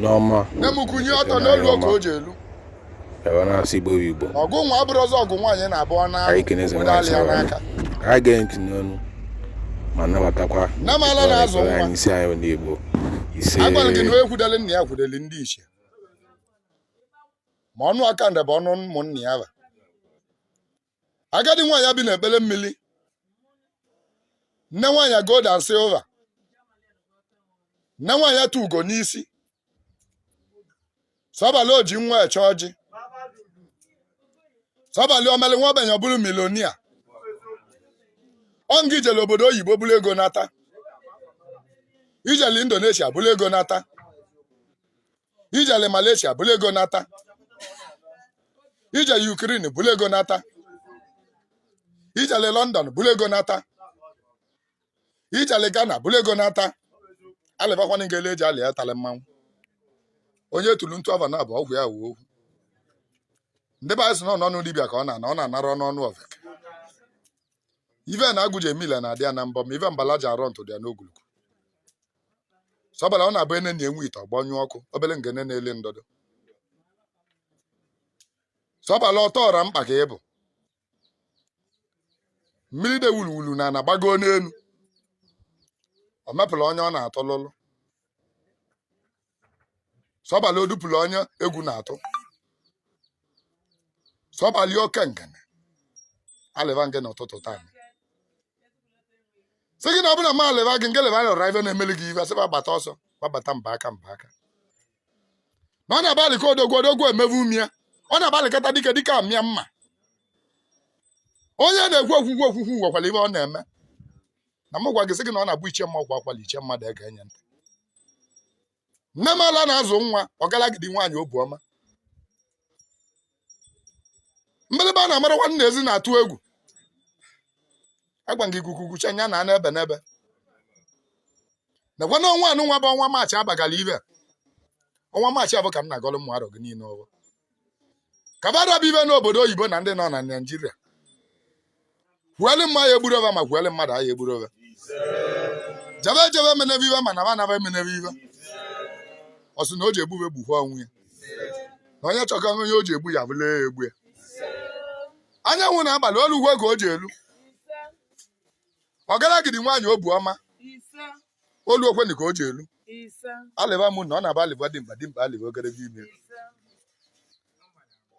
n'ọma nne m kwunye ọtọ n'o luo ka o ji elu ebe na-asị igbo igbo ọgụ nwa abụrụ ọzọ ọgụ nwaanyị na-abụ ọ na anyị kenezi obodo nwaanyị alịa sara n'aka anyị ga ntị n'ọnụ ma nabatakwa Nne m ala na-azụ nwa. anyị isi anyị ndị igbo ise agwara gị na onye kwudere nna ya kwudere ndị ichie ma ọnụ ọkanda bụ ọnụ ụmụnna ya ba agadi nwaanyị a bi n'ikpere mmiri nne nwaanyị a gold and silver nne nwaanyị a tu ugo n'isi sọbalị o ji nwa eche ọjị sọbalị omeli nwa ogbenye ọ bụrụ milonia ọ ngị ijele obodo oyibo buru ego nata ijele indonesia buru ego nata ijele Malaysia buru ego nata ijele Ukraine buru ego nata ijele London buru ego nata ijele Ghana buru ego nata alịbakwana nke ele eji alị ya tala mmanwụ onye tulu ntu ava na abụ ọgwụ ya wuo okwu ndị be anyị sị na ọ nọ n'ọnụ dibịa ka ọ na-ana ọ na-anara ọnụ ọnụ ọvek ive na agụ ji eme ile na-adị ya na mbọ ma ive mbala ji arọ ntụ dị ya n'ogologo sọbala ọ na-abụ enenịa nwa ite ọ gbanyụọ ọkụ obere ngene na-eli ndọdọ sọbala ọtọ ọra mkpa ka ị bụ mmiri de wuluwulu na-ana agbago n'elu ọ mepụrụ onye ọ na-atụ lụlụ sọbali odupụla onye egwu na-atụ sọbali oke ngene alịva nge n'ụtụtụ taa sị gị na ọ bụla ma alịva gị nge leva lụra ife na-emeli gị ife asịba gbata ọsọ gbabata mbaka mbaka na ọ na-abụ alịka odogwu odogwu emevu umie ọ na-abụ alịkata dike dike amịa mma onye na-ekwu okwukwu okwukwu nwekwara ife ọ na-eme na m gwa gị sị gị na ọ na-abụ ichie mma kwaa ụkwala ichie mmadụ egee nya ntị nne m ala na-azụ nwa ọgalagidi nwaanyị obu ọma mgbịrịgba a na-amara nwanne ezi na-atụ egwu agwa gị ikuku kucha nya na n'ebe n'ebe nekwa na ọnwa anụnwa bụ ọnwa maachị abagala ibe ọnwa maachị abụ ka m na-agọrọ ụmụ arọ gị niile ọvọ ka ba ra bụ ibe n'obodo oyibo na ndị nọ na naijiria kwuelu mma ya egburu ova ma kwuelu mmadụ ya egburu ova jebe jebe menebe ibe mana ma naba emenebe ibe ọ sị na o ji egbu ibe gbukwa onwe ya na onye chọka onye o ji egbu ya bụla ya egbu ya anyanwụ na agbala o lugo ka o ji elu ọgalagidi nwaanyị obu ọma olu okwenụ ka o ji elu alịba m na ọ na-abụ alịba dimkpa dimkpa alịba ogologo imi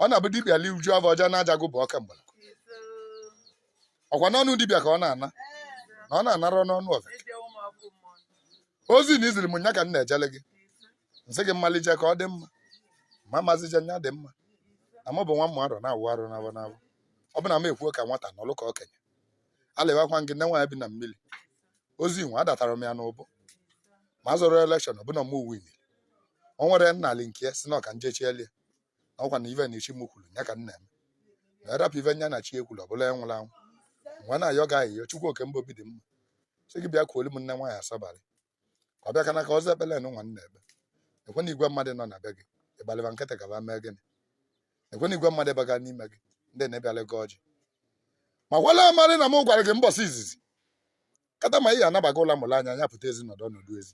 ọ na-abụ dibịa li uju afọ ọja na-aja gụ bụ ọka mgbala ọkwa n'ọnụ dibịa ka ọ na-ana na ọ na-anara n'ọnụ oveke ozi na i ziri m nya ka m na-ejele gị nsị gị mmalije ka ọ dị mma ma mazije nya dị mma na mụ bụ nwa mma arọ na-awụ arụ n'abụ n'abụ ọ bụ na m ekwuo ka nwata nụlụ ka okenye alịbakwa gị nne nwaanyị bi na mmiri ozi nwe adatara m ya n'ụbụ ma zọrọ election ọbụna m uwe nile o nwere nnalị nke ya sị na ọka njechieli ya na ọkwa na ive na ichi m kwuru ya ka nna m na-erapụ ive nya na chi ekwuru ọbụla ya nwụrụ anwụ nwa na-ayọ gị ayịyọ chukwu oke mba obi dị mma sị gị bịa kuolu m nne nwaanyị asabalị ka ọ bịa ka n'aka ọzọ ekpele nụ nwanne ebe ekwe na igwe mmadụ nọ na be gị ị gbalị ba nkịtị ka ba mee gịnị ekwe na igwe mmadụ baga n'ime gị ndị na-ebịala gị ọjị ma gwala amarị na m gwara gị mbọsị izizi kata ma ị ya anabaga ụla mụla anya anya pụta ezi nọdụ ọnọdụ ezi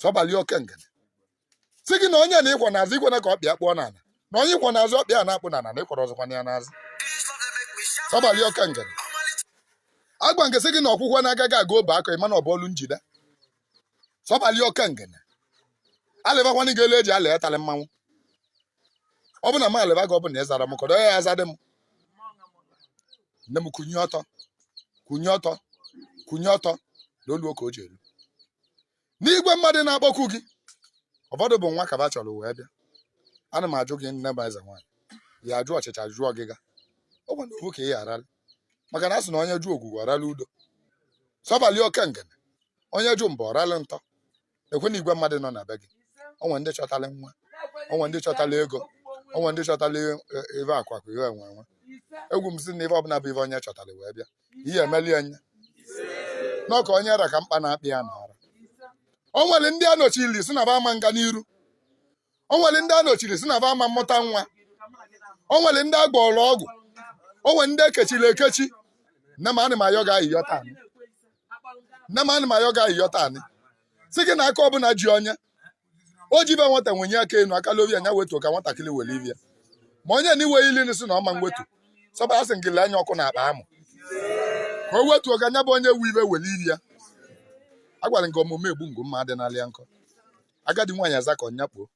sọbalị oke ngene sị gị na onye na ị kwọ n'azụ ikwena ka ọkpa ya kpụọ n'ala na onye ị kwọ n'azụ ọkpa ya na-akpụ n'ala na ị kwọrọ ọzọkwa ya n'azụ sọbalị oke ngene agwa m gị sị gị na ọkụkọ na-agaghị aga o bee akwa ị ma na ọ bụ olu njide sọbalị oke ngene alịbakwana gị elu eji alị etalị mmanwụ ọ bụ na m alịba gị ọ bụ na ị zara m kọdọ ya ya zadị m nne m kwunye ọtọ kwunye ọtọ kwunye ọtọ na olu oke o ji elu na igwe mmadụ na-akpọkwu gị ụfọdụ bụ nwa ka ba chọrọ wee bịa ana m ajụ gị nne m eze nwaanyị ya ajụ ọchịcha jụọ ọgịga ọ bụ na ofu ka ị gharala maka na a sị na onye jụ ogwugwu ọ rala udo sọbalị oke ngene onye jụ mba ọ rala ntọ ekwe na igwe mmadụ nọ na be gị o nwe ndị chọtala nwa o nwe ndị chọtala ego o nwe ndị chọtala ive akụ akụ ihe enwe enwe ekwu m sị na ive ọbụla bụ ive onye chọtala wee bịa ihe emeli enye na ọ ka onye ra ka mkpa na-akpa ya na-ara o nwere ndị a nọchili sị na ba ama nga n'iru o nwere ndị a nọchiri sị na ba ama mmụta nwa o nwere ndị a gwọrọ ọgwụ o nwere ndị e kechiri ekechi nne m anị m ayọ gị ayịyọ taa anị. nne m anị m ayọ gị ayịyọ taa anị. sị gị na aka ọbụla ji onye o ji ive nwata wenye aka enu aka lobe nya wetuo ka nwatakịrị were ive ya ma onye na iwe ili sị na ọ ma nwetu sọba asị gị lee anya ọkụ n'akpa amụ ka o wetuo ka nya bụ onye nwe ive were ive ya agwara m gị omume egbu ngwu mma adịnala ya nkọ agadi nwaanyị azakọọ nya kpoo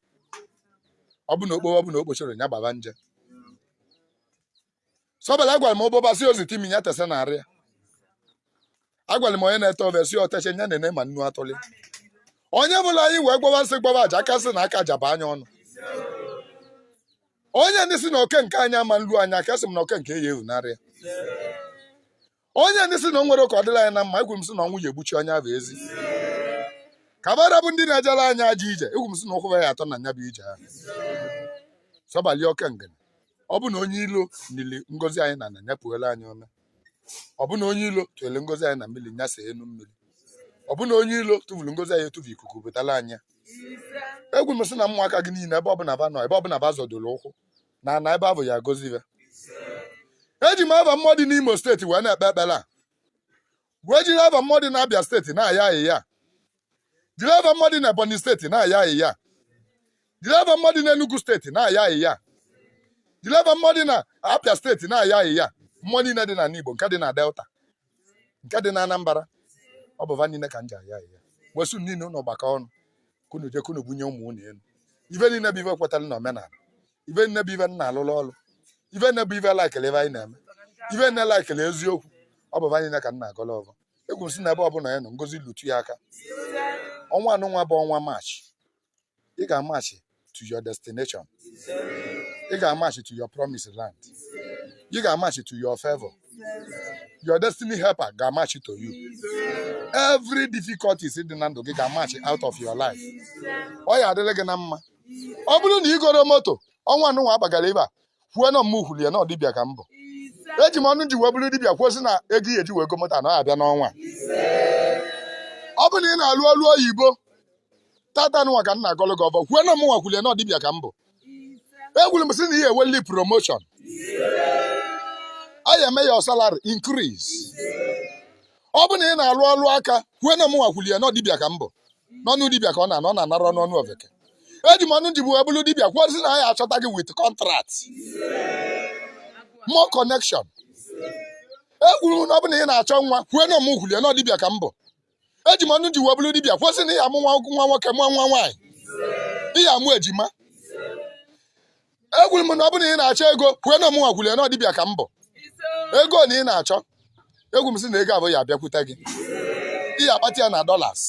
ọ bụ na o kpo ọ bụ na o kpochoro ya gbaba nje sọbala agwara m ụbọba sị o zite imi ya tesa n'arụ ya agwara m onye na-ete ofe sị o teche nya nene ma nnu atụlị onye bụla anyị wee gbaba nsị gbaba aja aka sị na aka ja-aba nya ọnụ onye ndị sị na oke nke anyị ama nlu anyị aka sị m na oke nke ya evunarị ya onye ndị si na o nwere ka ọ dịla anyị na mma ekwu m sị na ọnwụ ya egbuchi onye ahụ ezi ka va ra bụ ndị na-ejela anyị ajọ ije ekwu m sị na ụkwụ ya atọ na nya bụ ije ahụ sọbali oke ngene ọ bụ na onye ilo nili ngozi anyị na n'ana nya puela anyị ome ọ bụ na onye ilo tụele ngozi anyị na mmiri nya see enu mmiri ọ bụ na onye ilo tụfuru ngozi anyị atụfu ikuku butela anyị ya. ekwu m sị na ụmụaka gị niile ebe ọbụla va nọ ebe ọbụla va zọdoro ụkwụ na ana ebe avụ ya agọzi va eji m ava mmụọ dị n'imo steeti wee na-ekpe ekpere a wee jiri ava mmụọ dị n'abịa steeti na-ayọ ayịyọ jiri ava mmụọ dị n'ebonyi steeti na-ayọ ayịyọ jiri ava mmụọ dị n'enugu steeti na-ayọ ayịyọ jiri ava mmụọ dị na abịa steeti na-ayọ ayịyọ mmụọ niile dị n'ala igbo nke dị na delta nke dị na anambra ọ bụ va niile ka m ji ayọ ayịyọ wee sị unu niile unu gbakọ ọnụ ka unu je ka unu bunie ụmụ unu elu ife niile bụ ife kwetara na omenala ife niile bụ ife m na-alụrụ ọrụ ife niile bụ ife laikele ife anyị na-eme ife niile laikele eziokwu ọ bụ va niile ka m na-agọla ọvọ ekwu m sị na ebe ọbụla ya nọ ngozi lute ya aka ọnwa anụnwa bụ ọnwa march ị ga-amachi to your destination ị ga-amachi to your promised land ị ga-amachi to your favor your destiny helper ga-amachi to you every difficulties dị na ndụ gị ga-amachi out of your life ọ ya adịrị gị na mma ọ bụrụ na i goro moto ọnwa anụnwa agbagara ebe a kwuo na mụnwa kwuli ya na ọ dibịa ka m bụ eji m ọnụ ji wee bụrụ dibịa kwuo sị na ego ị ya eji wee go moto na ọ ya abịa n'ọnwa ọ bụrụ na ị na-alụ ọrụ oyibo tata nụnwa ka m na-agọlụ gị ọvọ kwuo na mụnwa kwuli ya na ọ dibịa ka m bụ ekwuru m sị na ị ya eweli promotion a ya eme ya salary increase ọ bụ na ị na-alụ ọlụ aka kwue na ọ mụnwa kwuli ya na ọ dibịa ka m bụ n'ọnụ dibịa ka ọ na-anọ ọ nara anọ n'ọnụ ofeke eji m ọnụ ji wee bụrụ dibịa kwuo sị na a ya achọta gị with contract more connection ekwuru m na ọ bụ na ị na-achọ nwa kwue na ọ mụ kwuli ya na ọ dibịa ka m bụ eji m ọnụ m ji wee bụrụ dibịa kwuo sị na ị ya amụ nwa nwoke mụọ nwa nwaanyị ị ya amụ ejima ekwuru m na ọ bụrụ na ị na-achọ ego kwue na ọ mụnwa kwuru ya na ọ dibịa ka m bụ ego na ị na-achọ ekwu m sị na ego avụ ya abịakwute gị ị ya akpata ya na dollars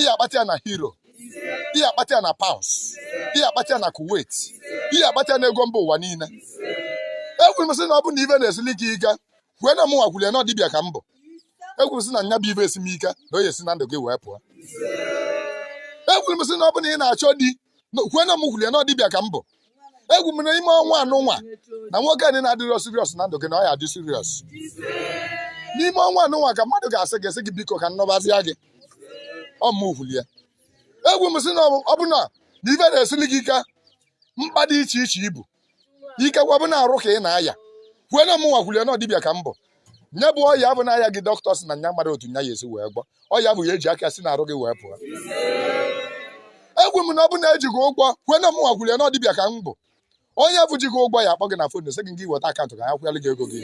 ị ya akpata ya na euro ị ya akpata ya na pounds ị ya akpata ya na kuwait ị ya akpata ya na ego mba ụwa niile ekwuru m sị na ọ bụrụ na ive na-esili gị ike kwue na ọ mụnwa kwuru ya na ọ dibịa ka m bụ ekwuru m sị na nya bụ ive esi m ike na ọ ya esi na ndụ gị wee pụọ ekwuru m sị na ọ bụrụ na ị na-achọ di kwue na m kwuru ya na ọ dibịa ka m bụ ekwu m n'ime ọnwa anụnwa na nwoke anyị na-adịrọ serious na ndụ gị na ọ ya adị serious n'ime ọnwa anụnwa ka mmadụ ga-asị gị sị gị biko ka m nụbazia gị ọ mụ kwuru ya ekwu m sị na ọ bụ na ive na-esili gị ike mkpa dị iche iche ibu ikekwa bụ na arụ ka ị na-aya kwue na mụnwa kwulie na ọ dibịa ka m bụ nya bụ ọya avụ na-aya gị dọkịta sị na nya amarọ otu nya ya esi wee gwọ ọya avụ ya eji aka si n'arụ gị wee pụọ ekwuo m na ọ bụ na e ji gị ụgwọ kwue na mụnwa kwulie na ọ dibịa ka m bụ onye avụ ji gị ụgwọ ya akpọ gị na fon sị gị gị weta akaụntụ ka ya kwụyalụ gị ego gị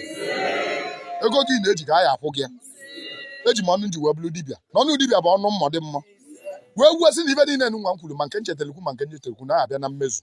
ego gị na-eji ka ya akwụ gị ya eji m ọnụ m ji wee bụrụ dibịa na ọnụ dibịa bụ ọnụ mmọ dị mmọ wee kwuo sị na ive niile nwa m kwuru ma nke m chetele kwuo ma nke m chetele kwuo na-abịa na mmezu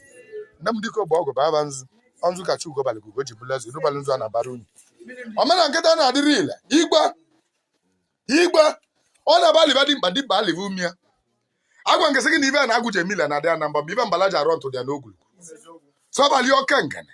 nne m dịka ogbe ọgụ bụ aba nzu ọ nzu ka chi ugo balị ugo ji bụlụ eze iru balị nzu a na-abara unyi omena nkịta na-adịrị ile igwe igwe ọ na-aba liba dimkpa dimkpa aliva ume ya agwa m gị sị gị na ive a na-agwụ ji emila na adị anamba mgbe ive mbala ji arọ ntụ dị ya n'ogwulu sọbalị oke ngene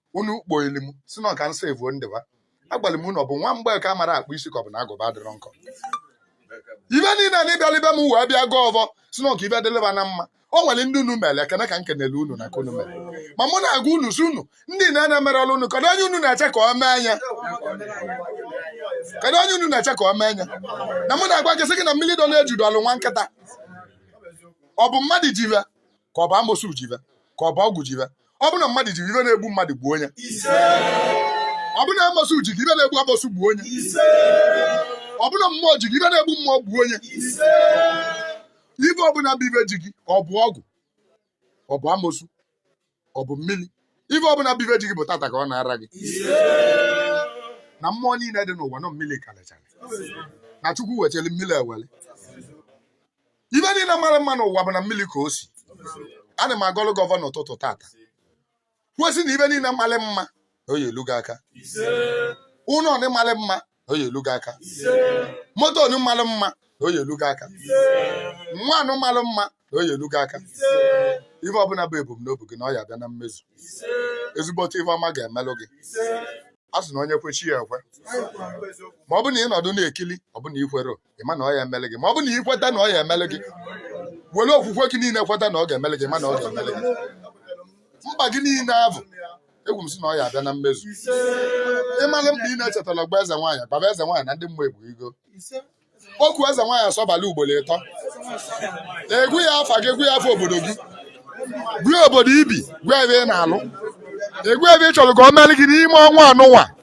unu kpoili m sị na ọ ka nsa evuo ndịba agwara m unu ọ bụ nwa mgbeke amarọ akpụ isi ka ọ bụ na agụba adịrọ nkọ ive niile na ị bịara be m wee bịa gọọ ọvọ sị na ọ ka ive dịlịba na mma o nwere ndị unu mere ekene ka m kenele unu na ka unu mere ma mụ na-agwa unu sị unu ndị na na-emere ọrụ unu kedu onye unu na-eche ka ọ mee nya kedu onye unu na-eche ka ọ mee nya na mụ na-agwa gị sị gị na mmiri dọ n'eju dọọlụ nwa nkịta ọ bụ mmadụ ji ive ka ọ bụ amosu ji ive ka ọ bụ ọgwụ ji ive ọ bụ na mmadụ ji ive na-egbu mmadụ gbuo onye ọ bụ na amosu ji ive na-egbu amosu gbuo onye ọ bụ na mmụọ ji ive na-egbu mmụọ gbuo onye ive ọbụla bụ ive ji gị ọ bụ ọgwụ ọ bụ amosu ọ bụ mmiri ive ọbụla bụ ive ji gị bụ tata ka ọ na-ara gị na mmụọ niile dị n'ụwa na ọ mmiri kalịchara na chukwu wetara mmiri ewere ive niile malị mma n'ụwa bụ na mmiri ka o si ana m agọlụ gị ọvọ n'ụtụtụ tata kwue sị na ive niile malị mma na ọ ya elu gị aka ụlọ ọnị malị mma na ọ ya elu gị aka moto ọnị malị mma na ọ ya elu gị aka nwa anụ malị mma na ọ ya elu gị aka ife ọbụla bụ ebumnobi gị na ọ ya abịa na mmezu ezigbote ife ọma ga-emelụ gị a sị na onye kwe chi ya ekwe ma ọ bụ na ị nọdụ na-ekili ọ bụ na i kwere ị ma na ọ ya emele gị ma ọ bụ na ị kweta na ọ ya emele gị were okwukwe gị niile kweta na ọ ga-emele gị ma na ọ ga-emele gị mkpa gị niile avụ ekwuo m sị na ọ ya abịa na mmezu ịmalụ mkpa ị na-echetala gba eze nwaanyị gbaba eze nwaanyị na ndị mmụọ egbu igo okwu eze nwaanyị asọbala ugboro ịtọ ị gwa ya afa gị ị gwa ya afa obodo gị gwa obodo i bi gwa ebe ị na-alụ ị gwa ive ị chọrọ ka ọ melụ gị n'ime ọnwa anụnwa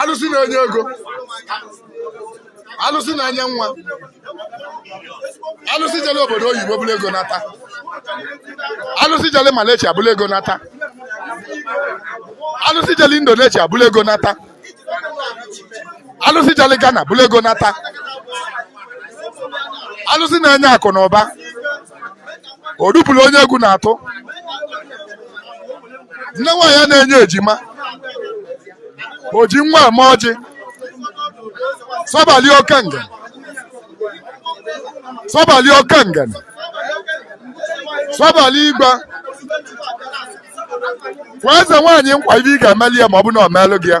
alụsị na-enye ego alụsị na-enye nwa alụsị jele obodo oyibo bulu ego nata alụsị jele Malaysia bulu ego nata alụsị jele Indonesia bulu ego nata alụsị jele Ghana bulu ego nata alụsị na-enye akụ na ụba o dupụrụ onye egwu na-atụ nne nwaanyị a na-enye ejima o ji nwa eme ọjị sọbali oke ngene sọbali oke ngene sọbali i kwekwa eze nwaanyị nkwa ive ị ga-emeli ya ma ọ bụ na ọ meelụ gị ya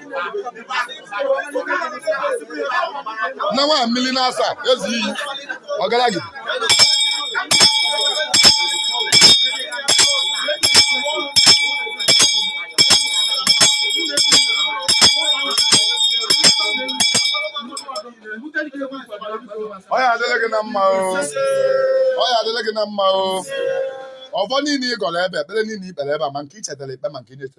na nwa mmiri na-asa ezi iyi ọgaragide ọ ya adịlị gị na mma o ọvọ niile ị gọrọ ebe ekpere niile i kpere ebe a ma nke i chetara ikpe ma nke i chetarọ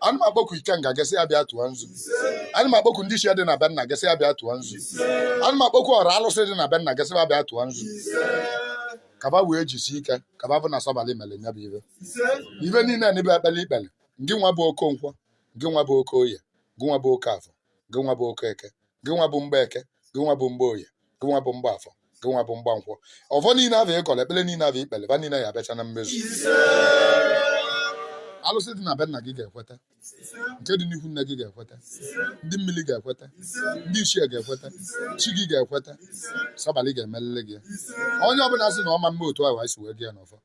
ana m akpọku ikenga gasị ya bịa tụọ nzu ana m akpọku ndị ichie dị na be nna gasị ya bịa tụọ nzu ana m akpọku ọra alụsị dị na be nna gasị ya bịa tụọ nzu ka va wee jisi ike ka va vụ na sọbalị mere nya bụ ive ive niile a n'ebe ekpele i kpele ngị nwa bụ okonkwọ ngị nwa bụ okoye ngị nwa bụ okafọ ngị nwa bụ okeke ngị nwa bụ mgbeke ngị nwa bụ mgboye ngị nwa bụ mgbafọ gị nwa bụ mgbankwọ ọvọ niile avụ ị gọlọ ekpele niile avụ i kpele va niile ya abịacha na mmezu alụsị dị na be nna gị ga-ekweta nke dị n'ihu nne gị ga-ekweta ndị mmiri ga-ekweta ndị ichie ga-ekweta chi gị ga-ekweta sọbalị ga-emelele gị ya. onye ọbụla sị na ọ ma mme otu ahụ anyị si wee gọọ ya n'ọfọ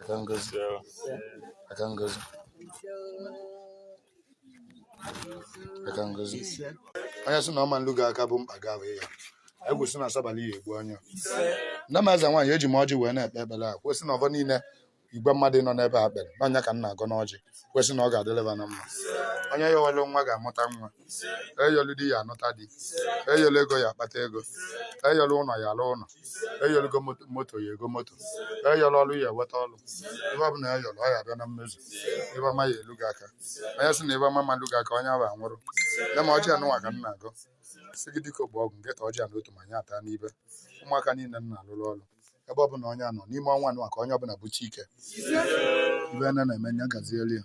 aka ngozi aka ngozi aka ngozi onye sị na ọ ma nlu gị aka bụ mkpa gị ahụ ya anyị kwu sị na sọbalị ya egbu onye a nne m eze nwaanyị eji m ọjị wee na-ekpe ekpere a kwe sị na ọvọ niile igwe mmadụ nọ n'ebe a kpere na nya ka m na-agọ n'ọjị kwe sị na ọ ga-adịlị va na mma onye yọlụ nwa ga-amụta nwa eyọlụ di ya anụta di eyọlụ ego ya akpata ego eyọlụ ụlọ ya alụ ụlọ eyọlụ igo moto- moto ya ego moto eyọlụ ọlụ ya eweta ọlụ ive ọbụla eyọlụ ọ ya abịa na mmezu ive ọma ya elu gị aka onye sị na ive ọma ma-elu gị aka onye ahụ anwụrụ nne m ọjị anụnwa ka m na-agọ sị gị dike ọgbọ ọgụ nkịta ọjị anụ otu ma anyị ata n'ibe ụmụaka niile m na-alụrụ ọlụ ebe ọbụla onye a nọ n'ime ọnwa anụnwa ka onye ọbụla bụchi ike ive a na-eme nya gazielu ya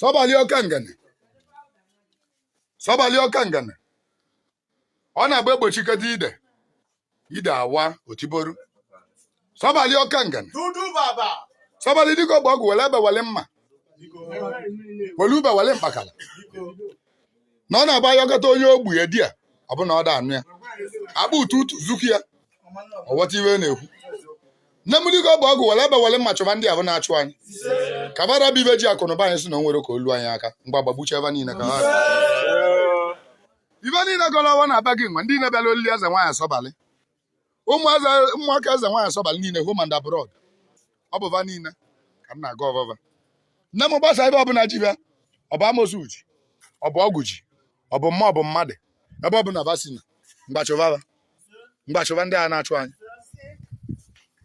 sọbali oke ngene sọbali oke ngene ọ na-agba egbochikọta ide ide awa otiboru sọbali oke ngene sọbali dike ọgbọ ọgụ wele egbe wele mma wele ube wele mkpakala na ọ na-agba ya ọkọta onye ogbu ya di ya ọ bụ na ọ da anụ ya akpa ụtụtụ zuku ya ọ ghọta ive na-ekwu nne m dịka ọ bụ ọgwụ were egbe were mma chụba ndị ahụ na-achụ anyị ka bara bụ ive ji akụnụba anyị si na o nwere ka o lu anyị aka ngwa gbagbucha va niile ka ha ibe niile gọrọ ọwa na-aba gị nwa ndị na-abịara olili eze nwaanyị asọbalị ụmụaka eze nwaanyị asọbala niile home and abroad ọ bụ va niile ka m na-agọ ọvọ va nne m gbasa ive ọbụla ji va ọ bụ amosu ji ọ bụ ọgwụ ji ọ bụ mmụọ ọ bụ mmadụ ebe ọbụla va sina ngwa chụva va ngwa chụva ndị a na-achụ anyị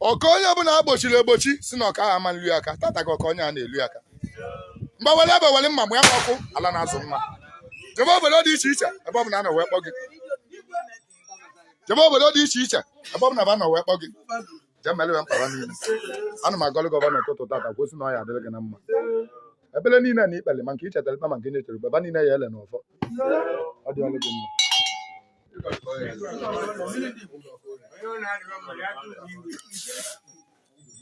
oke onye ọbụla egbochiri egbochi si na oke ahụ ama elu ya aka tata ka oke onye a na-elu ya aka ngwa wele egbe wele mma mgbe ya ọkụ ala na-azụ ngwa jebe obodo dị iche iche ebe ọbụla a nọ wee kpọ gị jebe obodo dị iche iche ebe ọ bụla va nọ wee kpọ gị jee mere wee mkpara niile ana m agọlụ gị ọvọ n'ụtụtụ tata kwusi na ọ ya adịrị gị na mma ekpele niile na-ekpele ma nke i chetara ikpe ma nke nyechere ikpe va niile ya-ele n'ọfọ ọ dịgoro gị mma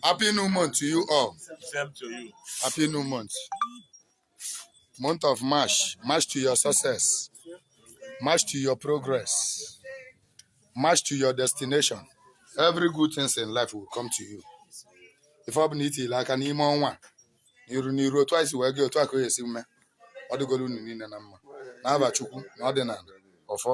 Happy new month to you all. Same to you. Happy new month. month of march march to your success march to your progress march to your destination every good things in life will come to you ife ọ bụla i tile aka n'ime ọnwa a, n'iru n'iru otu anyị si wee gọọ otu a ka ọ ya-esi mee ọ dịgoro unu niile na mma n'ava chukwu na ọdịnala ọfọ